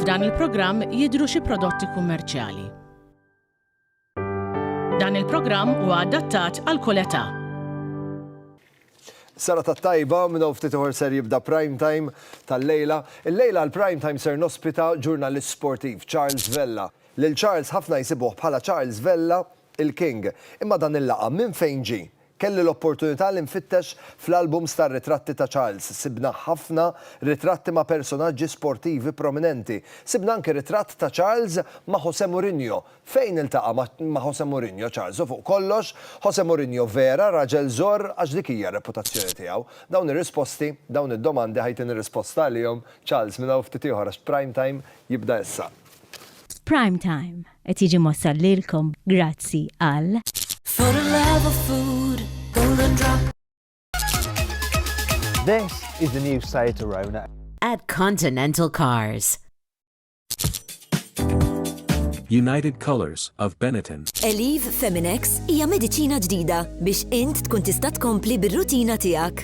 F'dan il-programm jidhru xi prodotti kummerċjali. Dan il-programm huwa adattat għal kull età. Sara ta' tajba minn hawn ftit ieħor ser jibda prime time tal-lejla. Il-lejla l-prime time ser nospita ġurnalist sportiv Charles Vella. Lil Charles ħafna jsibuh bħala Charles Vella il-King. Imma dan il-laqam minn fejn ġie? Kelli l-opportunità li nfittex fl-albums tar-ritratti ta' Charles. Sibna ħafna ritratti ma' personaġġi sportivi prominenti. Sibna anki ritratt ta' Charles ma' Jose Mourinho. Fejn iltaqa' ma' Jose Mourinho Charles? U fuq kollox, Jose Mourinho vera raġel żorr għax dik hija r-reputazzjoni tiegħu? Dawn ir-risposti, dawn id-domandi ħa jtini risposta għalihom Charles minn hawn ftit ieħor għax Prime Time jibda issa. Prime Time, Qed jiġi mwassal lilkom grazzi għal. For the love of food, golden drop. This is the new Seat Arona. At Continental Cars. United Colors of Benetton. Eliv Feminex hija mediċina ġdida biex int tkun tista' tkompli bir-rutina tiegħek.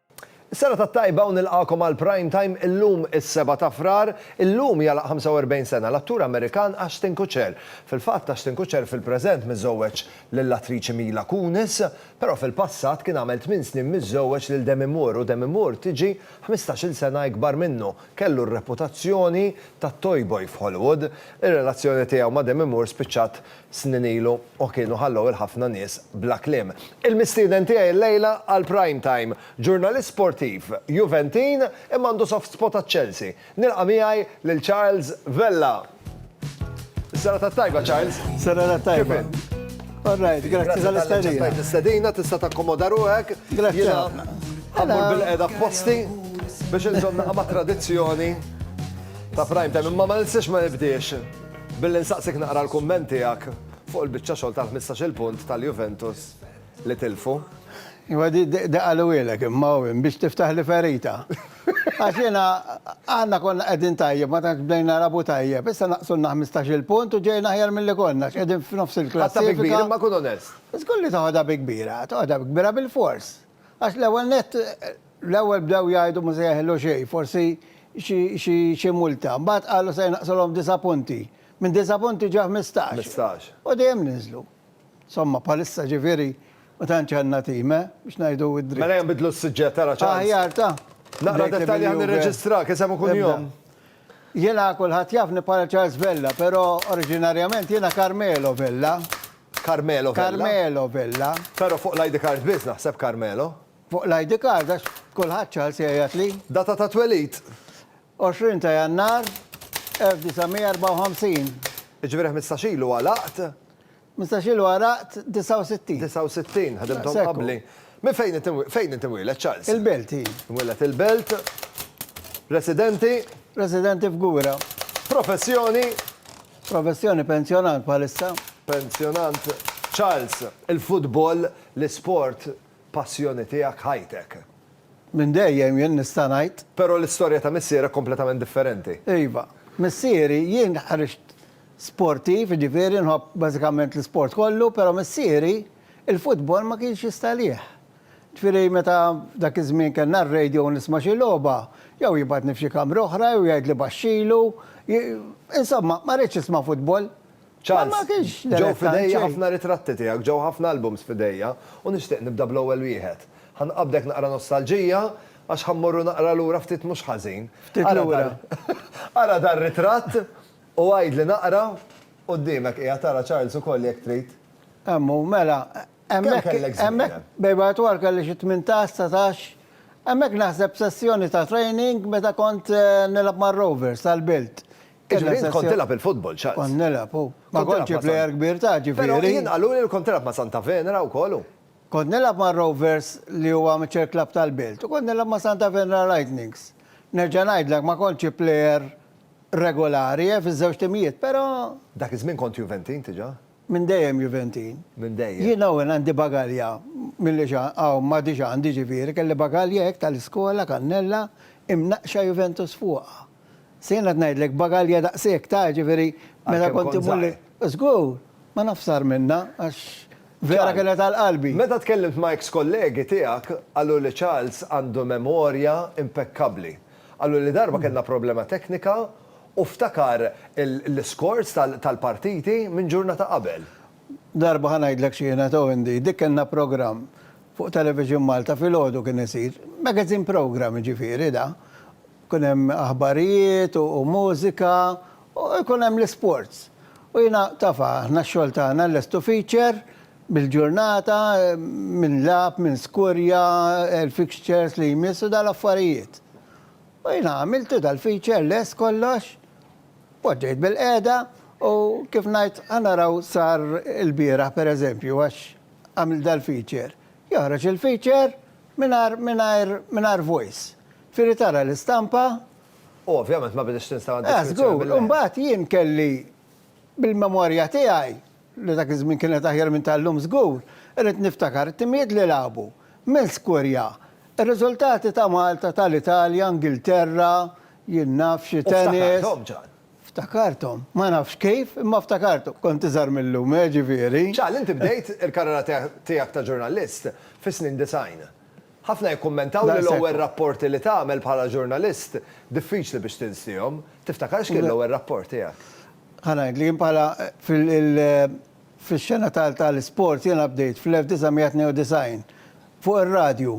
Is-sena tat-tajba u nilqagħkom għal Prime Time illum is-Sebgħa ta' Frar. Illum jagħlaq 45 sena l-attur Amerikan Ashton Kutcher. Fil-fatt Ashton Kutcher fil-preżent miżżewweġ lill-attriċi Mila Kunis, però fil-passat kien għamel tmien snin miżżewweġ lil Demi Moore u Demi Moore tiġi ħmistax-il sena ikbar minnu. Kellu r-reputazzjoni tat-toyboy f'Hollywood. Ir-relazzjoni tiegħu ma' Demi Moore spiċċat snin ilu u kienu ħallew 'il ħafna nies bla kliem. Il-mistieden tiegħi llejla għal Prime Time, ġurnalist sportiv, Juventin imma għandu soft spot għaċ-Chelsea. Nilqa' miegħi lil Charles Vella. Is-serata t-tajba, Charles. Serata t-tajba. Kif int? All right, grazzi tal-istadina. Grazzi tal-istadina, tista' takkomoda ruħek. Grazzi ħafna. Għammur bil-qeda posti biex nżomna ma' tradizzjoni ta' prime time, imma ma nistax ma nibdiex. Billi nsaqsik naqra l-kumment tiegħek fuq il-biċċa xogħol tal-ħmistax-il punt tal-Juventus li tilfu. Iva di qalulilek imma hu hemm biex tiftaħli ferita. Għax jiena aħna konna qegħdin tajjeb ma tantx bdejna nilagħbu tajjeb, issa naqsulna ħmistax-il punt u ġejna aħjar milli konna għax qegħdin f'nofs il-klassifika. Ħadtha bi kbir imma kun onest. Żgur li toħodha bi kbir, toħodha bi kbir bilfors. Għax l-ewwel nett, l-ewwel bdew jgħidu ma se jeħillu xejn, forsi xi xi multa. Mbagħad qalu se jnaqqsulhom disa' punti. Minn disa' punti ġew ħmistax. Ħmistax. U dejjem niżlu. Insomma, bħalissa ġifieri ma tantx għandna tim, eh, biex ngħidu d-dritt. Mela ejja nbiddlu s-suġġett, ara ċans. Aħjar ta. Naqra dettalji ħalli nirreġistrak, isem u kunjom. Jiena kulħadd jafni bħala Charles Vella, però oriġinarjament jiena Carmelo Vella. Carmelo Vella? Carmelo Vella. Però fuq l-ID card biss naħseb Carmelo. Fuq l-ID card għax kulħadd Charles jgħajjatli. Data ta' twelid? 20 ta' Jannar 1954. Jiġifieri ħmistax ilu għalaqt? Mistax ilu għaraqt 69. 69, ħadimthom qabli. Minn fejn int imwieled? Fejn int imwieled, Charles? Il-Belt, hi. Imwieled il-Belt. Residenti? Residenti f'Gura. Professjoni? Professjoni pensjonant bħalissa. Pensjonant. Charles, il-futbol, l-isport Passjoni tiegħek ħajtek. Minn dejjem jien nista' ngħid. Però l-istorja ta' missierek kompletament differenti. Iva. Missieri, jien ħriġt sportiv, jiġifieri nħobb bażikament l-isport kollu, però missieri l-futbol ma kienx jista' għalih. Jiġifieri meta f'dak iż-żmien kellna r-radio u nisma' xi logħba, jew jibgħatni f'xi kamra oħra jew jgħidli baxxilu, insomma ma ridx nisma' futbol. Charles, Ġew f'idejja ħafna ritratti tiegħek, ġew ħafna albums f'idejja, u nixtieq nibda bl-ewwel wieħed. Ħa nqabbdek naqra nostalġija, għax ħa mmorru naqra lura ftit mhux ħażin. Ftit lura. Ara dar-ritratt u għidli naqra, quddiemek qiegħed ara Charles ukoll jekk trid. Hemm hu, mela, hemmhekk, hemmhekk bejba u twal kelli xi tmintax, satax, hemmhekk naħseb sessjoni ta' training meta kont nilgħab mar-Rovers għall-Bilt. Jiġifieri int kont tilgħab il-futbol, Charles? Kont nilgħab, hu. Ma kontx xi plejer kbir ta' ġifieri. Però jien qaluli li kont tilgħab ma' Santa Venera wkoll, hu. Kont nilgħab mar-Rovers li hu amateur club tal-belt u kont nilgħab ma' Santa Venera Lightnings. Nerġa' ngħidlek ma kontx xi plejer regulari, eh, fiż-żewġ timijiet, però. Dak iż-żmien kont Juventin diġà? Minn dejjem Juventin. Minn dejjem. Jien hawn għandi bagalja milli hawn m'għadix għandi ġifieri, kelli bagalja hekk tal-iskola, kannella, imnaqqxa Juventus fuqha. Se jien qed ngħidlek bagalja daqshekk ta' ġifieri meta kont immur li. Żgur, ma nafx sar minnha għax vera kienet għal qalbi. Meta tkellimt ma' eks kollegi tiegħek qalu li Charles għandu memorja impekkabbli. Qaluli darba kellna problema teknika U ftakar l-iscores tal-partiti minn ġurnata qabel. Darba ħa ngħidlek x'kienet o Indy, dik kellna programm fuq Television Malta filgħodu kien isir, magazine programm jiġifieri da, kien hemm aħbarijiet u mużika u jkun hemm l-isports. U jiena taf aħna x-xogħol tagħna lest u feature bil-ġurnata min lagħab, min skurja, il-fixtures li jmiss u dal-affarijiet. U jiena għamiltu dal-feature lest kollox, poġġejt bil-qiegħda u kif ngħid ħa naraw sar ilbieraħ pereżempju għax għamilt dal-feature. Joħroġ il-feature mingħajr mingħajr mingħajr voice. Iġifieri tara l-istampa. U ovvjament ma biditx l-installation feature bil-qiegħda. Żgur, u mbagħad jien kelli Bil-memorja tiegħi, li dak iż-żmien kienet aħjar minn tal-lum żgur, irrid niftakar it-timijiet li lagħbu. Minn skurja, ir-riżultati ta' Malta, tal-Italja, Ingilterra, jien naf xi tennis. U ftakarthom, Ġan. Ftakarthom. Ma nafx kif, imma ftakarthom. Kont iżgħar mil-lum, eh, ġifieri. Ġan, inti bdejt il-karriera tiegħek ta' ġurnalist fis-snin disgħin. Ħafna jikkummentaw li l-ewwel rapporti li tagħmel bħala ġurnalist diffiċli biex tinsihom. Tiftakar x'kien l-ewwel rapport tiegħek? Ħa ngħidlek, jien bħala fil-xena tal-isport jiena bdejt fl-1992 fuq ir-radju.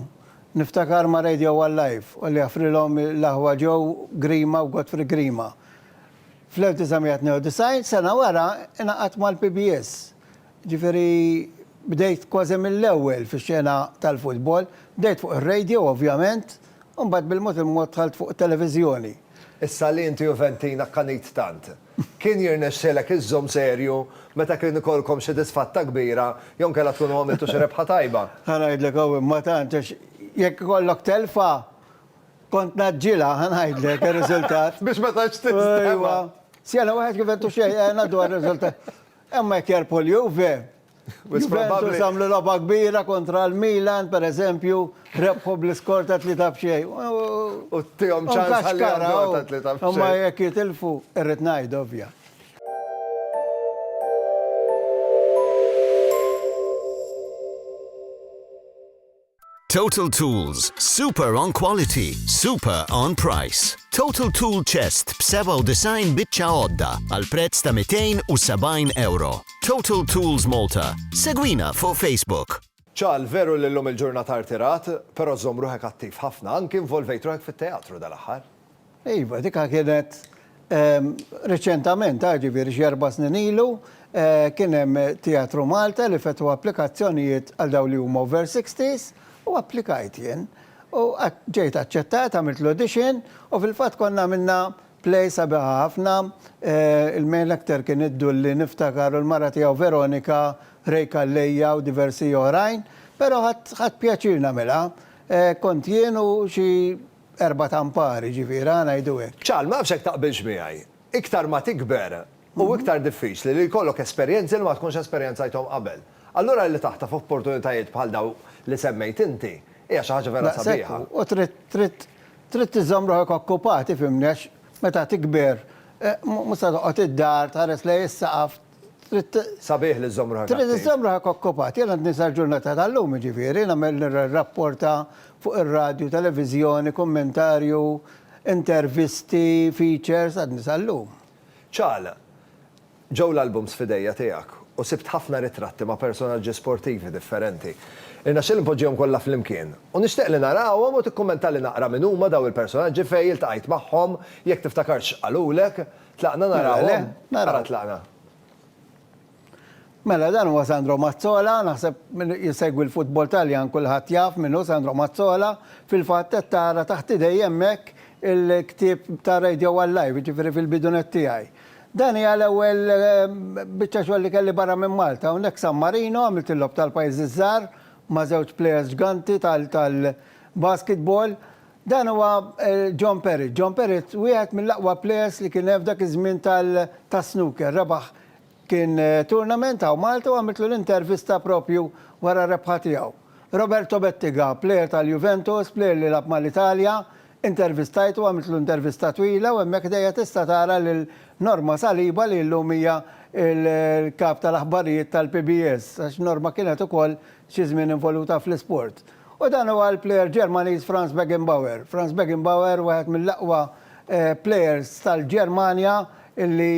Niftakar ma' Radio One Live u li jaffrilhom l-aħwa Joe Grima u Godfrey Grima. Fl-1992, sena wara, ingħaqadt mal-PBS Ġifieri bdejt kważi mill-ewwel fix-xena tal-futbol. Bdejt fuq ir-radio ovvjament, u mbagħad bil-mod il-mod dħalt fuq it-televiżjoni. Issa li inti Juventin akkanit tant, kien jirnexxilek iżżomm serju meta kien ikollkom xi disfatta kbira jew inkella tkunu għamiltu xi rebħa tajba? Ħa ngħidlek hawn imma tant, għax jekk ikollok telfa, kont ngħaġġilha, ħa ngħidlek ir-riżultat. Biex ma tantx tinstema. Ejwa. Xena waħed Juventus xejn, ngħaddu għar-riżultat. Imma jekk jerbħu l-Juve, Juventus għamlu logħba kbira kontra l-Milan, pereżempju, rebħu bl-iskor ta' tlieta b'xejn. U tihom ċans ħalli jgħaddu ta' tlieta b'xejn. Imma jekk jitilfu, irrid ngħid ovvja. Total Tools, super on quality, super on price. Total Tool Chest b-97 biċċa għodda għal prezz ta' 270 euro. Total Tools Malta. Segwina fuq Facebook. Ċal, veru li l-lum il-ġurnata artirat, pero zomruħek attiv ħafna, anki involvejt ruħek fit-teatru dal-axħar. Iva, dikha kienet riċentament, ġifieri xi erba' snin ilu, kien hemm Teatru Malta li fetħu applikazzjonijiet għal dawn li huma over sixties u applikajt jien. U ġejt aċċettat, għamilt l-audition u fil-fatt konna għamilna play sabiħ ħafna. Il-male actor kien id-Dulli niftakar u l-mara tiegħu Veronika, Ray Calleja u diversi oħrajn. Però ħadt pjaċir nagħmilha. Kont jien u xi erbat ampar, jiġifieri, ħa ngħidu hekk. Charl, ma nafx jekk taqbilx miegħi, iktar ma tikber hu iktar diffiċli li jkollok esperjenzi li ma tkunx esperjenzajthom qabel. Allura li taħtaf opportunitajiet bħal dawn li semmejt inti hija xi ħaġa vera sabiħa. Daqshekk hu, u trid, trid, trid iżżomm ruħek okkupat, ifhimni, għax meta tikber mhux se toqgħod id-dar tħares lejn is-saqaf, Trid. Sabiħ li żżomm ruħek. Trid iżżomm ruħek okkupat. Jien għadni sal-ġurnata tal-lum jiġifieri nagħmel nirrapporta fuq ir-radju, televiżjoni, kummentarju, intervisti, features, għadni sal-lum. Ċagħla, Ġew l-albums f'idejja tiegħek u sibt ħafna ritratti ma' personaġġi sportivi differenti. Irnexxieli npoġġihom kollha flimkien u nixtieq li narahom u tikkummentali naqra min huma dawn il-personaġġi fejn iltqajt magħhom, jekk tiftakarx x'qalulek. Tlaqna narawhom? Mela le, naraw. Ara tlaqna. Mela dan huwa Sandro Mazzola, naħseb min jsegwi l-futbol Taljan kulħadd jaf min hu Sandro Mazzola, fil-fatt qed tara taħt idejja hemmhekk il-ktieb ta' Radio One Live, jiġifieri fil-bidunet tiegħi. Dan hija l-ewwel biċċa xogħol li kelli barra minn Malta, hawnhekk San Marino għamilt il-Logħob tal-Pajjiżi ż-Żgħar ma' żewġ plejers ġganti tal-basketball, Dan huwa John Perrett. John Perrett wieħed mill-aqwa plejers li kien hemm f'dak iż-żmien tas-snooker. Rebaħ kien tournament hawn Malta u għamiltlu l-intervista proprju wara r-rebħa tiegħu. Roberto Bettiga, plejer tal-Juventus, plejer li lagħab mal-Italja, intervistajtu, għamiltlu intervista twila u hemmhekk ħdejja tista' tara lil Norma Saliba li llum hija l-kap tal-aħbarijiet tal-PBS għax Norma kienet ukoll xi żmien involuta fl-isport. U dan huwa l-plejer Ġermaniż Franz Beckenbauer. Franz Beckenbauer wieħed mill-aqwa plejers tal-Ġermanja li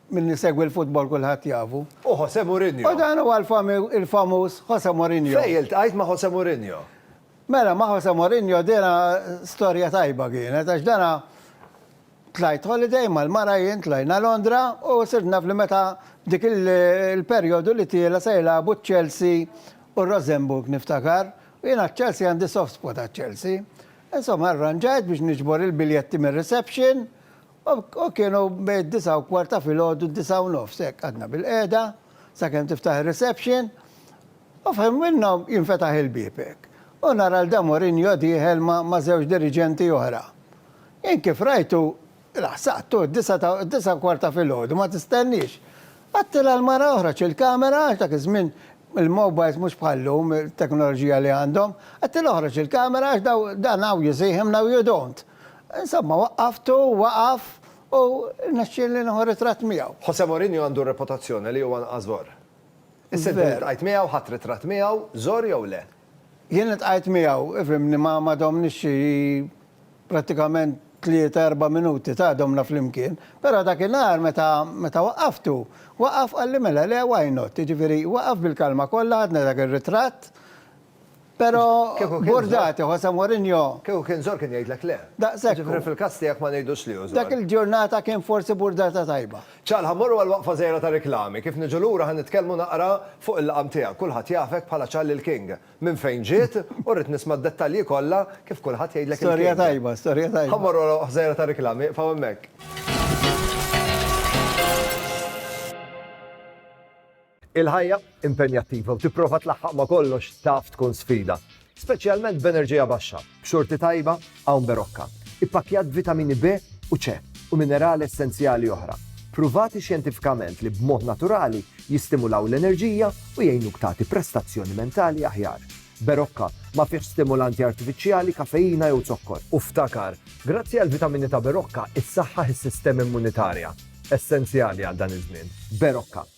min isegwi l-futbol kulħadd jafu. U Jose Mourinho. U dan huwa l-famuż Jose Mourinho. Fejn iltqajt ma' Jose Mourinho? Mela ma' Jose Mourinho dina storja tajba kienet għax dana Tlajt holiday mal-mara jien tlajna Londra u sirt naf li meta dik il-perjodu li tiela' se jilagħbu ċ-Chelsea u r-Rosenborg niftakar u jien għaċ-Chelsea għandi soft spot għaċ-Chelsea. Insomma arranġajt biex niġbor il-biljetti mir-reception u kienu bejn id-disgħa u kwart ta' filgħodu d-disgħa u nofs hekk qgħadna bil-qiegħda sakemm tiftaħ ir-reception u f'ħin minnhom jinfetaħ il-bieb hekk u nara lil dan Mourinho dieħel ma' żewġ diriġenti oħra. Int kif rajtu, laħsaqtu, d-disgħa ta', d-disgħa u kwart ta' filgħodu, ma tistenniex. Għattilha l-mara oħroġ il-kamera, għax dak iż-żmien il-mowbajls mhux bħal-lum, it-teknoloġija li għandhom, għattilha oħroġ il-kamera għax daw, dan hawn you see him, now you don't. Insomma, waqqaftu, waqaf u rnexxielni nieħu ritratt miegħu. Jose Mourinho għandu r-reputazzjoni li huwa anqas żor. Is-sentiment li ltqajt miegħu, ħadt ritratt miegħu, żor jew le? Jien iltqajt miegħu, fhimni, ma ma domniex xi prattikament tlieta erba' minuti, ta' domna flimkien. Però dakinhar meta meta waqqaftu, waqaf qalli mela le why not? Jiġifieri waqaf bil-kalma kollha ħadna dak ir-ritratt, però burdati, Jose Mourinho. Kieku kien żor kien jgħidlek le. Daqshekk hu. Jiġifieri fil-każ tiegħek ma ngħidux li hu żor. Dak il-ġurnata kien forsi burdata tajba. Ċal, ħa mmorru għal waqfa żgħira ta' riklami. Kif niġu lura ħa nitkellmu naqra fuq il-laqam tiegħek. Kulħadd jafek bħala Ċal il-King. Minn fejn ġiet? U rrid nisma' d-dettalji kollha kif kulħadd jgħidlek il-King. Storja tajba, storja tajba. Ħa mmorru għal waqfa żgħira ta' riklami. Iqfgħu hemmhekk. Il-ħajja impenjattiva u tipprova tlaħħaq ma' kollox taf tkun sfida, speċjalment b'enerġija baxxa, b'xorti tajba hawn Berocca, ippakkjat b'vitamini B u C u minerali essenzjali oħra, pruvati xjentifikament li b'mod naturali jistimulaw l-enerġija u jgħinuk tagħti prestazzjoni mentali aħjar. Berocca ma fihx stimulanti artifiċjali, kafeina jew zokkor. U ftakar, grazzi għall-vitamini ta' Berocca, issaħħaħ is-sistema immunitarja, essenzjali għal dan iż-żmien. Berocca.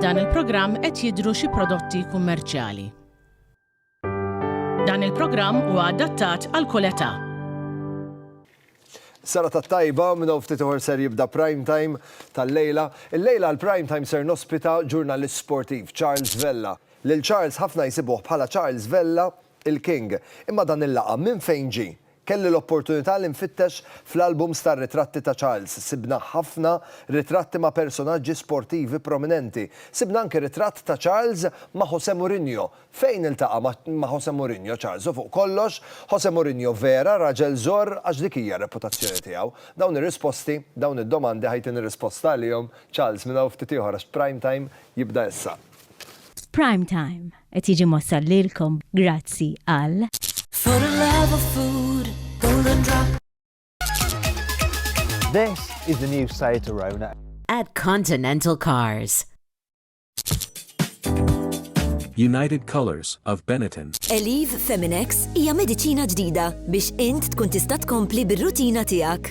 F'dan il-programm qed jidhru xi prodotti kummerċjali. Dan il-programm huwa adattat għal kull età. Sara ta' tajba minn ftit uħor ser jibda prime time tal-lejla. Il-lejla l-prime time ser nospita ġurnalist sportiv Charles Vella. Lil Charles ħafna jsibuh bħala Charles Vella il-King. Imma dan il-laqam minn fejn ġie? Kelli l-opportunità li nfittex fl-albums tar-ritratti ta' Charles. Sibna ħafna ritratti ma' personaġġi sportivi prominenti. Sibna anki ritratt ta' Charles ma' Jose Mourinho. Fejn iltaqa' ma' Jose Mourinho Charles? U fuq kollox, Jose Mourinho vera raġel żorr għax dik hija r-reputazzjoni tiegħu? Dawn ir-risposti, dawn id-domandi ħa jtini risposta għalihom Charles minn hawn ftit ieħor għax Prime Time jibda issa. Prime Time. Qed jiġi mwassal lilkom grazzi għal. For the love of food, golden drop. This is the new Seat Arona. At Continental Cars. United Colors of Benetton. Eliv Feminex hija mediċina ġdida biex int tkun tista' tkompli bir-rutina tiegħek.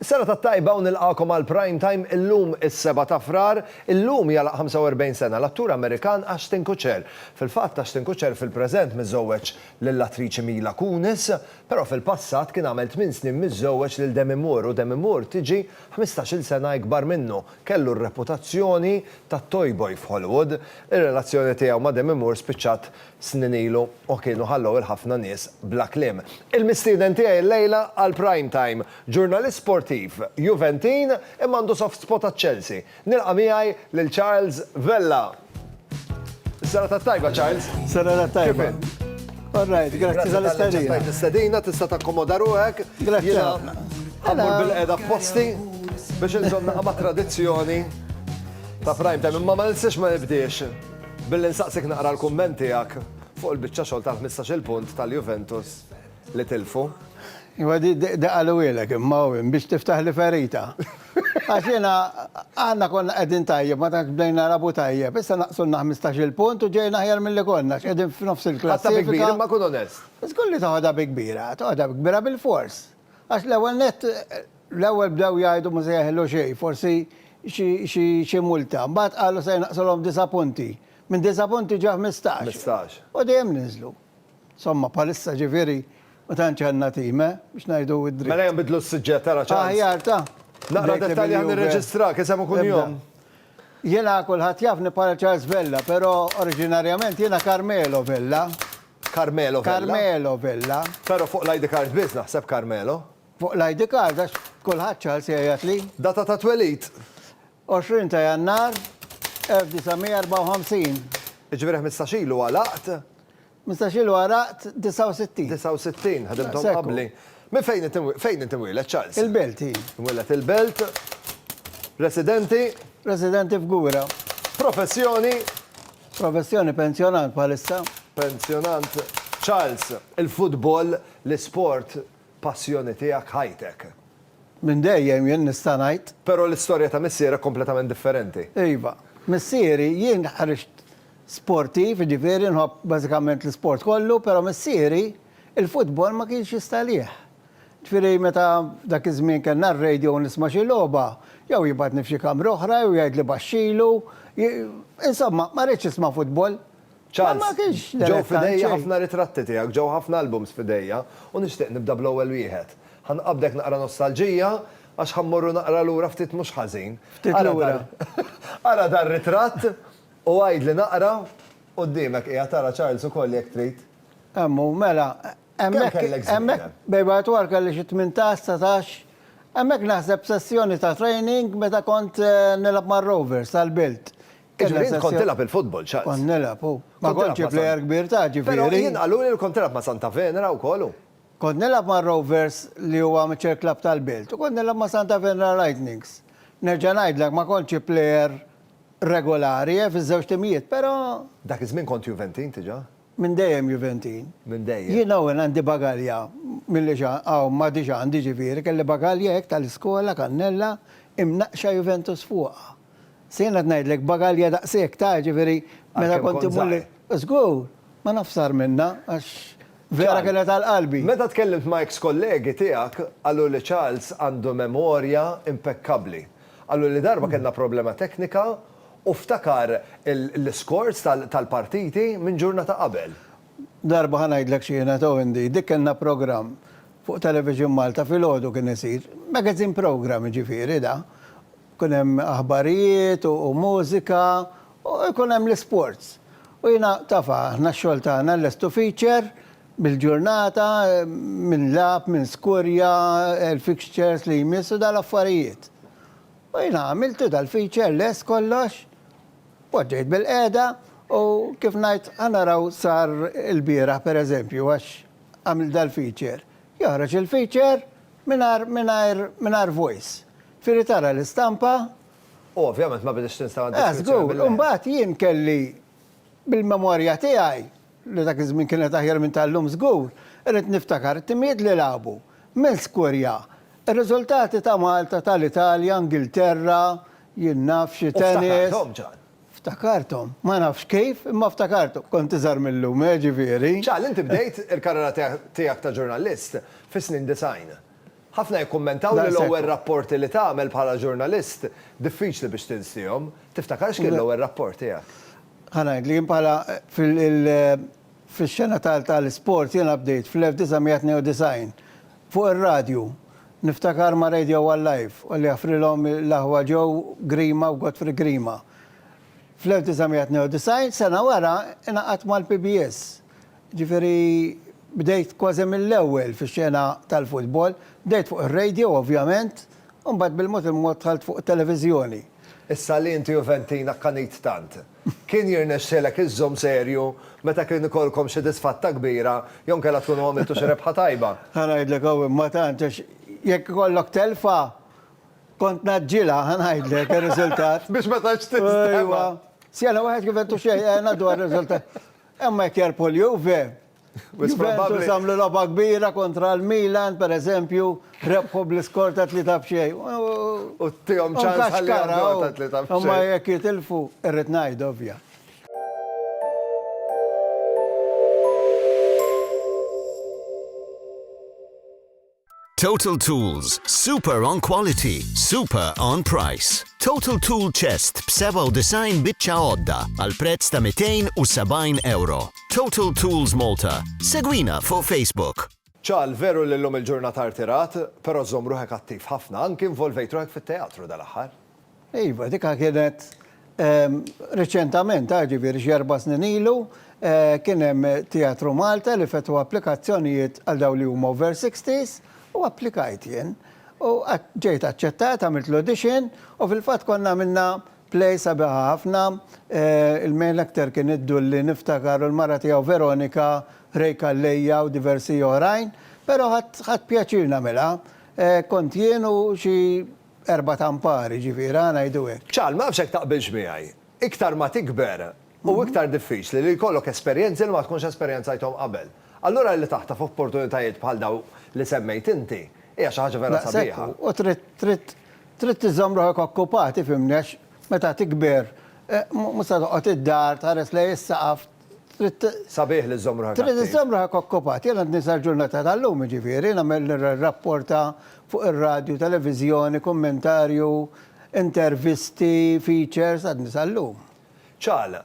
Sena tat-tajba u nilqagħkom għal Prime Time illum is-Sebgħa ta' Frar. Illum jagħlaq 45 sena l-attur Amerikan Ashton Kutcher. Fil-fatt Ashton Kutcher fil-preżent miżżewweġ lill-attriċi Mila Kunis, però fil-passat kien għamel tmien snin miżżewweġ lil Demi Moore u Demi Moore tiġi ħmistax-il sena ikbar minnu. Kellu r-reputazzjoni tat-toyboy f'Hollywood. Ir-relazzjoni tiegħu ma' Demi Moore spiċċat snin ilu u kienu ħallew 'il ħafna nies bla kliem. Il-mistieden tiegħi llejla għal Prime Time, ġurnalist sportiv, Juventin imma għandu soft spot għaċ-Chelsea. Nilqa' miegħi lil Charles Vella. Is-serata t-tajba, Charles. Serata t-tajba. Kif int? All right, grazzi tal-istadina. Grazzi tal-istadina, tista' takkomoda ruħek. Grazzi. Għamur bil-qeda posti biex nżomna ma' tradizzjoni ta' prime time, imma ma nistax ma nibdiex. Billi nsaqsik naqra l-kumment tiegħek fuq il-biċċa xogħol tal-ħmistax-il punt tal-Juventus li tilfu. Iva di qalughielek imma hu hemm biex tiftaħli ferita. Għax jiena aħna konna qegħdin tajjeb ma tantx bdejna nilagħbu tajjeb, issa naqsulna ħmistax-il punt u ġejna aħjar milli konna għax qegħdin f'nofs il-klassifika. Ħadtha bi kbir imma kun onest. Żgur li toħodha bi kbira, toħodha bi kbira bil-fors. Għax l-ewwel nett, l-ewwel bdew jgħidu ma se jeħillu xejn, forsi xi xi multa. Mbagħad qalu se jnaqqsulhom disa' punti. Minn disa' punti ġew ħmistax. Ħmistax. U dejjem niżlu. Insomma, bħalissa ġifieri ma tantx għandna tim, eh, biex ngħidu d-dritt. Mela ejja nbiddlu s-suġġett, ara ċans. Aħjar ta. Naqra dettalji ħalli nirreġistrak, isem u kunjom. Jiena kulħadd jafni bħala Charles Vella, però oriġinarjament jiena Carmelo Vella. Carmelo Vella? Carmelo Vella. Però fuq l-ID card biss naħseb Carmelo. Fuq l-ID card għax kulħadd Charles jgħajjatli. Data ta' twelid? 20 ta' Jannar 1954. Jiġifieri ħmistax ilu għalaqt? Mistax ilu għaraqt 69. 69, ħadimthom qabli. Minn fejn int imwieled? Fejn int imwieled, Charles? Il-Belt, hi. Imwieled il-Belt. Residenti? Residenti f'Gura. Professjoni? Professjoni pensjonant bħalissa. Pensjonant. Charles, il-futbol, l-isport, Passjoni tiegħek ħajtek. Minn dejjem jien nista' ngħid. Però l-istorja ta' missierek kompletament differenti. Iva. Missieri, jien ħriġt sportiv, jiġifieri nħobb bażikament l-isport kollu, però missieri l-futbol ma kienx jista' għalih. Jiġifieri meta f'dak iż-żmien kellna r-radio u nisma' xi logħba, jew jibgħatni f'xi kamra oħra jew jgħidli baxxilu, insomma ma ridx nisma' futbol. Charles, ġew f'idejja ħafna ritratti tiegħek, ġew ħafna albums f'idejja, u nixtieq nibda bl-ewwel wieħed. Ħa nqabbdek naqra nostalġija, għax ħa mmorru naqra lura ftit mhux ħażin. Ftit lura. Ara dar-ritratt u għidli naqra, quddiemek qiegħed ara Charles ukoll jekk trid. Hemm hu, mela, hemmhekk, hemmhekk bejn bajt u għar kelli xi tmintax, satax, hemmhekk naħseb sessjoni ta' training meta kont nilgħab mar-Rovers għall-Bilt. Jiġifieri int kont tilgħab il-futbol, Charles? Kont nilgħab, hu. Ma kontx xi plejer kbir ta' ġifieri. Però jien qaluli li kont tilgħab ma' Santa Venera wkoll, hu. Kont nilgħab mar-Rovers li hu amateur club tal-belt u kont nilgħab ma' Santa Venera Lightnings. Nerġa' ngħidlek ma kontx xi plejer regolari, eh, fiż-żewġ timijiet, però. Dak iż-żmien kont Juventin diġà? Minn dejjem Juventin. Minn dejjem. Jien hawn għandi bagalja milli hawn m'għadix għandi ġifieri kelli bagalja hekk tal-iskola kannella imnaqqxa Juventus fuqha. Se jien qed ngħidlek bagalja daqshekk ta' ġifieri meta kont immur li. Żgur. Ma nafx sar minnha għax vera kienet għal qalbi. Meta tkellimt ma' eks kollegi tiegħek qalu li Charles għandu memorja impekkabbli. Qaluli darba kellna problema teknika U ftakar l-iscores tal-partiti minn ġurnata qabel. Darba ħa ngħidlek x'kienet o Indy, dik kellna programm fuq Television Malta filgħodu kien isir, magazine programme jiġifieri da, kien hemm aħbarijiet u mużika u jkun hemm l-isports. U jiena taf aħna x-xogħol tagħna nlestu feature bil-ġurnata min lagħab, min skurja, il-fixtures li jmiss u dal-affarijiet. U jiena għamiltu dal-feature lest kollox, poġġejt bil-qiegħda u kif ngħid ħa naraw sar ilbieraħ pereżempju għax għamilt dal-feature. Joħroġ il-feature mingħajr mingħajr mingħajr voice. Iġifieri tara l-istampa. U ovvjament ma biditx l-installation feature bil-qiegħda. Żgur, u mbagħad jien kelli Bil-memorja tiegħi, li dak iż-żmien kienet aħjar minn tal-lum żgur, irrid niftakar it-timijiet li lagħbu. Minn skurja, ir-riżultati ta' Malta, tal-Italja, Ingilterra, jien naf xi tennis. U ftakarthom, Ġan. Ftakarthom. Ma nafx kif, imma ftakarthom. Kont iżgħar mil-lum, eh, ġifieri. Ġan, inti bdejt il-karriera tiegħek ta' ġurnalist fis-snin disgħin. Ħafna jikkummentaw li l-ewwel rapporti li tagħmel bħala ġurnalist diffiċli biex tinsiehom. Tiftakar x'kien l-ewwel rapport tiegħek? Ħa ngħidlek, jien bħala fil-xena tal-isport jiena bdejt fl-1992 fuq ir-radju. Niftakar ma' Radio One Live u li jaffrilhom l-aħwa Joe Grima u Godfrey Grima. Fl-1992, sena wara, ingħaqadt mal-PBS. Ġifieri bdejt kważi mill-ewwel fix-xena tal-futbol. Bdejt fuq ir-radio ovvjament, u mbagħad bil-mod il-mod dħalt fuq it-televiżjoni. Issa li inti Juventin akkanit tant, kien jirnexxilek iżżomm serju meta kien ikollkom xi disfatta kbira jew inkella tkunu għamiltu xi rebħa tajba? Ħa ngħidlek hawn imma tant għax jekk ikollok telfa kont ngħaġġilha, ħa ngħidlek ir-riżultat. Biex ma tantx tinstema'. Ejwa. Xena waħed Juventus xejn, ngħaddu għar-riżultat. Imma jekk jerbħu l-Juve, Juventus għamlu logħba kbira kontra l-Milan, pereżempju, rebħu bl-iskor ta' tlieta b'xejn. U tihom ċans ħalli jagħmluha ta' tlieta b'xejn. Imma jekk jitilfu, irrid ngħid ovvja. Total Tools, super on quality, super on price. Total Tool Chest b'97 biċċa għodda għal prezz ta' 270 euro. Total Tools Malta. Segwina fuq Facebook. Ċal, veru li l-lum il-ġurnata artirat, pero zomruħek attiv ħafna, anki involvejt ruħek fit-teatru dal-axħar. Iva, dikha kienet reċentament, ġifieri xi erba' snin ilu, kien hemm Teatru Malta li fetħu applikazzjonijiet għal dawn li huma over 60s u applikajt jien. U ġejt aċċettat, għamilt l-audition u fil-fatt konna għamilna play sabiħa ħafna. Il-male actor kien id-Dulli niftakar u l-mara tiegħu Veronika, Ray Calleja u diversi oħrajn. Però ħadt pjaċir nagħmilha. Kont jien u xi erbat ampar, jiġifieri, ħa ngħidu hekk. Charles, ma nafx jekk taqbilx miegħi, iktar ma tikber hu iktar diffiċli li jkollok esperjenzi li ma tkunx esperjenzajthom qabel. Allura li taħtaf opportunitajiet bħal dawn li semmejt inti hija xi ħaġa vera sabiħa. Daqshekk hu, u trid, trid, trid iżżomm ruħek okkupat, ifhimni, għax meta tikber mhux se toqgħod id-dar tħares lejn is-saqaf, Trid. Sabiħ li żżomm ruħek. Trid iżżomm ruħek okkupat. Jien għadni sal-ġurnata tal-lum jiġifieri nagħmel rapporta fuq ir-radju, televiżjoni, kummentarju, intervisti, features, għadni sal-lum. Ċagħla,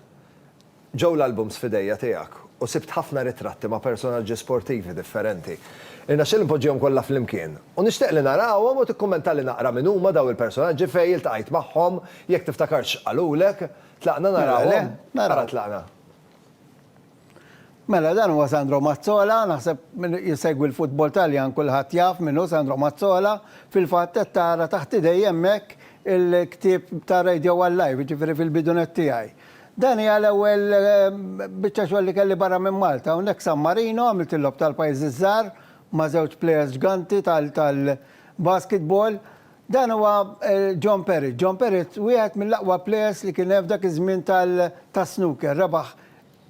Ġew l-albums f'idejja tiegħek u sibt ħafna ritratti ma' personaġġi sportivi differenti. Irnexxieli npoġġihom kollha flimkien u nixtieq li narahom u tikkummentali naqra min huma daw il-personaġġi fejn iltqajt magħhom, jekk tiftakarx x'qalulek. Tlaqna narawhom? Mela le, naraw. Ara tlaqna. Mela dan huwa Sandro Mazzola, naħseb min jsegwi l-futbol Taljan kulħadd jaf min hu Sandro Mazzola, fil-fatt qed tara taħt idejja hemmhekk il-ktieb ta' Radio One Live, jiġifieri fil-bidunet tiegħi. Dan hija l-ewwel biċċa xogħol li kelli barra minn Malta, hawnhekk San Marino għamilt il-Logħob tal-Pajjiżi ż-Żgħar ma' żewġ plejers ġganti tal-basketball. Dan huwa John Perrott. John Perrott wieħed mill-aqwa plejers li kien hemm f'dak iż-żmien tas-snooker. Rebaħ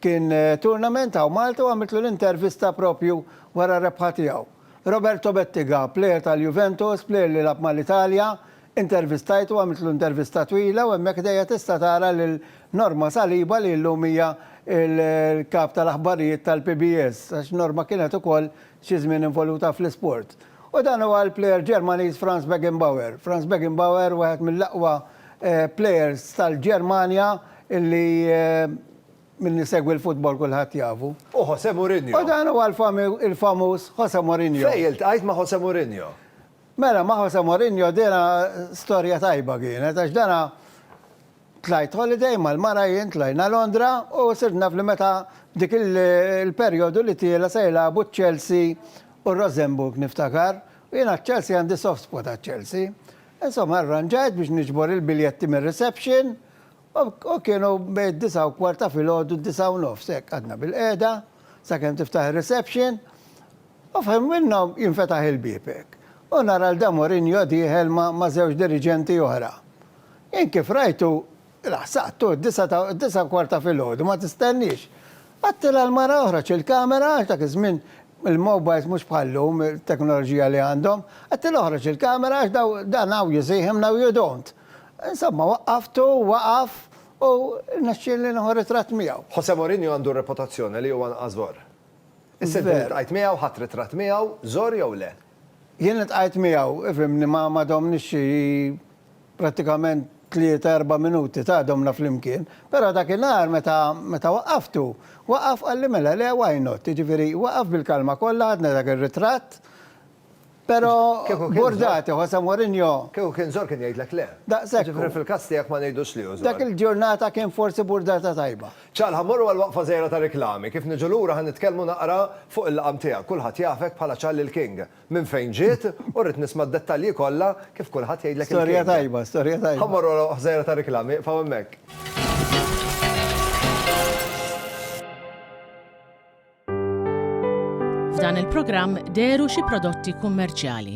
kien tournament hawn Malta u għamiltlu l-intervista proprju wara r-rebħa tiegħu. Roberto Bettiga, plejer tal-Juventus, plejer li lagħab mal-Italja, intervistajtu, għamiltlu intervista twila u hemmhekk ħdejja tista' tara lil Norma Saliba li llum hija l-kap tal-aħbarijiet tal-PBS għax Norma kienet ukoll xi żmien involuta fl-isport. U dan huwa l-plejer Ġermaniż Franz Beckenbauer. Franz Beckenbauer wieħed mill-aqwa plejers tal-Ġermanja li min isegwi l-futbol kulħadd jafu. U Jose Mourinho. U dan huwa l-famuż Jose Mourinho. Fejn iltqajt ma' Jose Mourinho? Mela ma' Jose Mourinho dina storja tajba kienet għax dana Tlajt holiday mal-mara jien tlajna Londra u sirt naf li meta dik il-perjodu li tiela' se jilagħbu ċ-Chelsea u r-Rosenborg niftakar u jien għaċ-Chelsea għandi soft spot għaċ-Chelsea. Insomma arranġajt biex niġbor il-biljetti mir-reception u kienu bejn id-disgħa u kwart ta' filgħodu d-disgħa u nofs hekk qgħadna bil-qiegħda sakemm tiftaħ ir-reception u f'ħin minnhom jinfetaħ il-bieb hekk u nara lil dan Mourinho dieħel ma' żewġ diriġenti oħra. Int kif rajtu, laħsaqtu, d-disgħa ta', d-disgħa u kwart ta' filgħodu, ma tistenniex. Għattilha l-mara oħroġ il-kamera, għax dak iż-żmien il-mobiles mhux bħal llum, it-teknoloġija li għandhom, għattilha oħroġ il-kamera għax daw, dan hawn you see him, now you don't. Insomma, waqqaftu, waqaf u rnexxielni nieħu ritratt miegħu. Jose Mourinho għandu r-reputazzjoni li huwa anqas żgħor. Is-sentiment li ltqajt miegħu, ħadt ritratt miegħu, żgħor jew le? Jien iltqajt miegħu, fhimni, ma ma domniex xi prattikament tlieta erba' minuti, ta' domna flimkien. Però dakinhar meta meta waqqaftu, waqaf qalli mela le why not? Jiġifieri waqaf bil-kalma kollha ħadna dak ir-ritratt, però burdati, Jose Mourinho. Kieku kien żor kien jgħidlek le. Daqshekk hu. Jiġifieri fil-każ tiegħek ma ngħidux li hu żor. Dak il-ġurnata kien forsi burdata tajba. Ċalħa mmorru għal waqfa żgħira ta' riklami. Kif niġu lura ħa nitkellmu naqra fuq il-laqam tiegħek. Kulħadd jafek bħala Charlie l-King. Minn fejn ġiet? U rrid nisma' d-dettalji kollha kif kulħadd jgħidlek il-King. Storja tajba, storja tajba. Ħa mmorru għal waqfa żgħira ta' riklami. Iqfgħu hemmhekk. F'dan il-programm dehru xi prodotti kummerċjali.